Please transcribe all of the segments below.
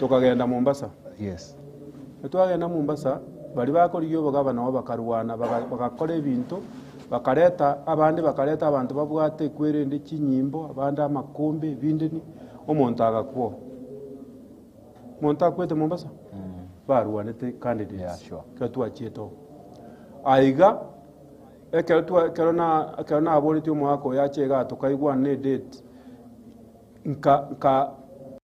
Tokagenda Mombasa. Yes. Etwagenda Mombasa, baria bakorigia obogaba nabo bakarwana, baga- bagakora ebinto, bakareta abande bakareta abanto babwate ekwerende, chinyimbo, abande amakombe, ebindini, omonto agakwa oo. Monto akwete Mombasa? Barwanete candidate. Yeah, sure. Ekero twachiete oo. Aiga, ekero twa- ekero na- ekero naboretie omogaka oyo ache igaa tokaigwana edate, nka- nka.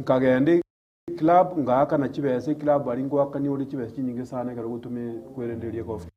Nkagenda eclub ngaakana chibesa eclub aria ngoakania ore chibesa chinyinge sana ekero gotoma kwerendereria gofika.